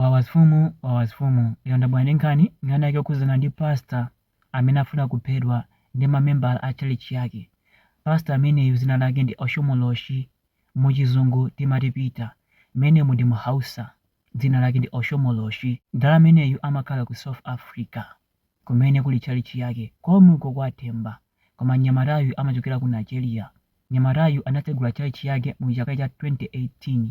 Wawasfumu Wawasfumu lero ndabwera ndi nkhani nkhani yake yokhudzana ndi pastor amene afuna kuphedwa ndi ma membala a tchalitchi yake. Pastor ameneyu dzina lake ndi Oshomoloshi mu chizungu timati Peter mmenemo ndi mu Hausa dzina lake ndi Oshomoloshi. M'dala ameneyu amakhala ku South Africa. kumene kuli tchalitchi yake komwe uko kwa Themba. Koma mnyamatayu amachokera ku Nigeria. Mnyamatayu anatsegula tchalitchi yake mu chaka cha 2018.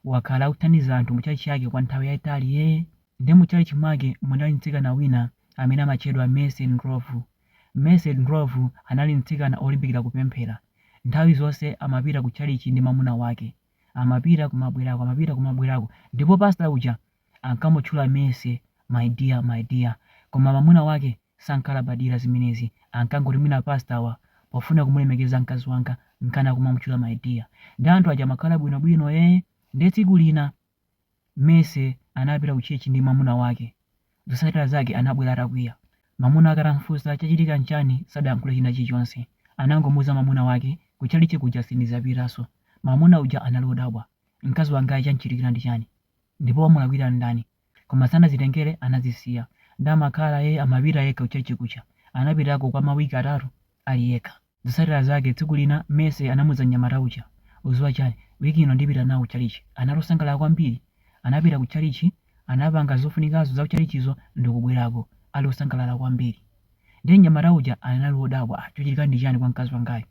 Wakhala akuthandiza anthu mu tchalitchi yake kwa nthawi yayitali yee. Nde mu tchalitchi mwake munali mtsikana wina amene amatchedwa Mercy Ndhlovu. Mercy Ndhlovu anali mtsikana olimbikira kupemphera. Nthawi zonse amapita ku tchalitchi ndi mamuna wake. Amapita kumabwerako, amapita kumabwerako. Ndipo pastor uja ankamutchula Mercy my dear my dear koma mamuna wake sankalabadira zimenezi ankangoti mwina pastor-wa akufuna kumulemekeza mkazi wanga nkana kumamutchula my dear nde anthu aja amakhala bwino bwino ee nde tsiku lina Mercy anapita ku church ndi mamuna wake zotsatira zake anabwera atakwiya mamuna wake atamfunsa chachitika nchani sadayankhule china chilichonse anangomuuza mamuna wake ku chalichi kuja sindidzapitanso mamuna uja anali odabwa Mkazi wangayu chamuchitikira ndi chani? Ndipo wamulakwira ndani? Koma sanazitengere anazisiya nde amakhala ee amapita yekha ku church kuja anapitako kwa ma week atatu ali yekha. Zotsatira zake tsiku lina Mercy anamuuza mnyamata uja udziwa chani week ino ndipita nawo ku church anali osangalala kwambiri anapita ku church anapanga zofunikazo za ku church-zo ndikubwerako ali osangalala kwambiri nde mnyamata uja anali odabwa ah chochitika ndi chani kwa mkazi wangayu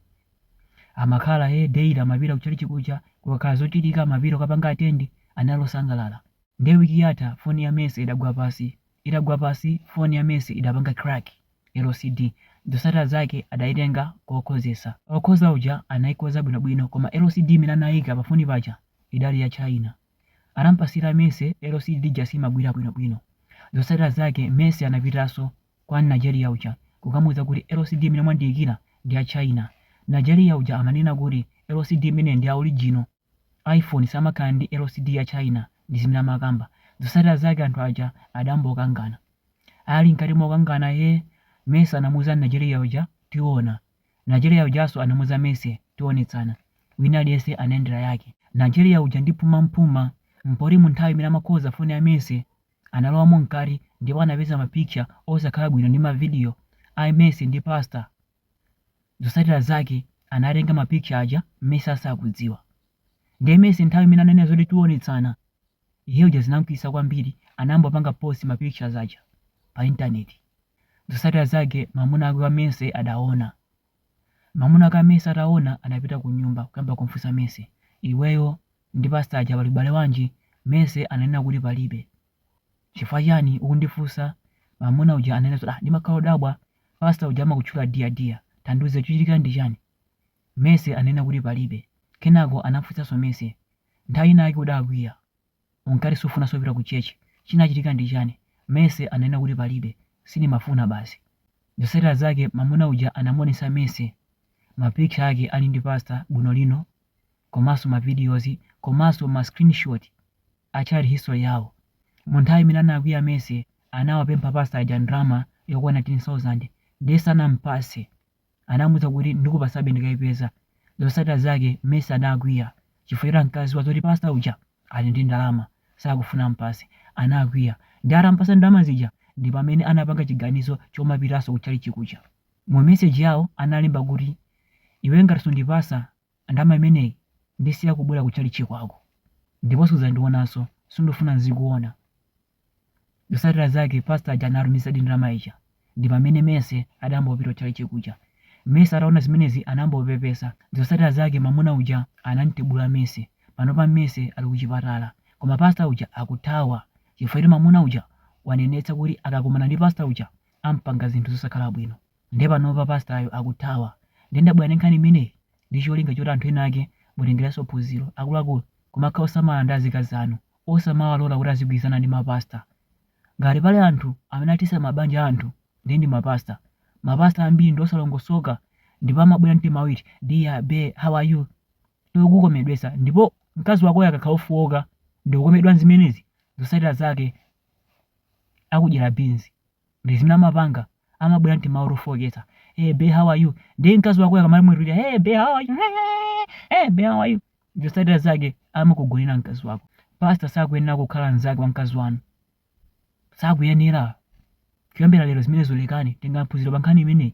Amakhala he daily amapita kuchalichi kuja kukakhala zochitika amapita kukapanga attend anali osangalala. Nde week yatha phone ya Mercy idagwa pansi itagwa pansi phone ya Mercy idapanga crack LCD zotsatira zake adaitenga kukakonzetsa okonza uja anaikonza bwino bwino koma LCD imene anaika pa phone paja idali ya China anampatsira Mercy LCD ija siimagwira bwino bwino zotsatira zake Mercy anapitanso kwa Najeriya uja kukamuuza kuti LCD imene mwandiikira ndi ya China. Najeriya uja amanena kuti LCD imeneyi ndi ya original, iPhone samakhala ndi LCD ya China ndi zimene amakamba. Zotsatira zake anthu aja adambokangana. Ali mkati mokangana he, Mercy anamuuza Najeriya uja, tiona. Najeriya ujanso anamuuza Mercy, tionetsana. Wina aliyense anayendera yake. Najeriya uja ndi pumapuma mpoti munthawi imene amakonza foni ya Mercy, Analowamo mkati ndipo anapeza mapikitcha osakhala bwino ndi mavidiyo a Mercy ndi Pastor. Zotsatira zake, anatenga mapikitcha aja Mercy asakudziwa. Ndiye Mercy nthawi imene ananena zoti tionetsana, iye uja zinamkwiyitsa kwambiri anayamba kupanga post ma pictures aja pa intaneti. Zotsatira zake mamuna wake wa Mercy adaona. Mamuna ake a Mercy ataona anapita kunyumba kuyamba kumfunsa Mercy, iweyo ndi pastor aja pali ubale wanji? Mercy ananena kuti palibe. Chifukwa chani ukundifunsa? Mamuna uja ananena zoti ah ndimakhala odabwa pastor uja amakutchula dear dear tandiuze chuchitika ndi chani? Mercy ananena kuti palibe. Kenako anamfunsaso Mercy nthawi ina yake udakwiya. Unkati sumafunanso kupita ku church chinachitika ndi chani? Mercy ananena kuti palibe, sindimafuna basi. Zosatira zake mamuna uja anamuonesa Mercy ma picture ake ali ndi pastor bwino lino komanso ma videos komanso ma screenshot a chat history yawo. Mu nthawi imene anakwiya Mercy anawapempha pastor aja ndalama yokwana 10,000 nde sanampase. Anamuuza kuti ndikupatsabe ndikaipeza. Zotsatira zake Mercy anakwiya chifukwa choti ankadziwa zoti pastor uja ali ndi ndalama sakufuna amupatse. Anakwiya ndiye atamupatsa ndalama zija ndipamene anapanga chiganizo chomapitanso ku tchalitchi kuja. Mu message yawo analemba kuti iwe ngati sundipatsa ndalama imeneyi ndisiya kubwera ku tchalitchi kwako ndipo sudzandionanso, sindufuna nzikuona. Zosatira zake pastor aja anatumizadi ndalama ija ndipamene Mercy anayambanso kupita kuchalichi kuja. Mercy ataona zimenezi anayamba kupepesa. Zosatira zake mamuna uja anamtibula Mercy. Panopa Mercy ali kuchipatala. Koma pastor uja akuthawa chifukwa choti mamuna uja wanenetsa kuti akakumana ndi pastor uja ampanga zinthu zosakhala bwino. Nde panopa pastor yo akuthawa. Nde ndabwera ndi nkhani imeneyi ndicholinga choti anthu ena ake mutengereso phunziro. Akuluakulu kumakhala osamala ndi azikazi anu osamawalola kuti azigwilizana ndi ma pastor ngati pali anthu amene athetsa ma banja a anthu ndiye ndi ma pastor ma pastor ambiri ndi osalongosoka ndipo amabwera ndi timawu eti dear bae how are you iwe kukomedwetsa ndipo mkazi wakoyo akakhala ofooka ndikukomedwa nzimenezi zotsatira zake akudyera beans ndi zimene amapanga amabwera ndi timawu tofooketsa hey bae how are you ndiye mkazi wakoyo akamamwetulira hey bae how are you hey bae how are you zotsatira zake amakugonera mkazi wako pasta sakuyenera kukhala mnzake wa mkazi wanu sakuyenera kuyambira lero zimenezo lekani tengani phunziro pa nkhani imeneyi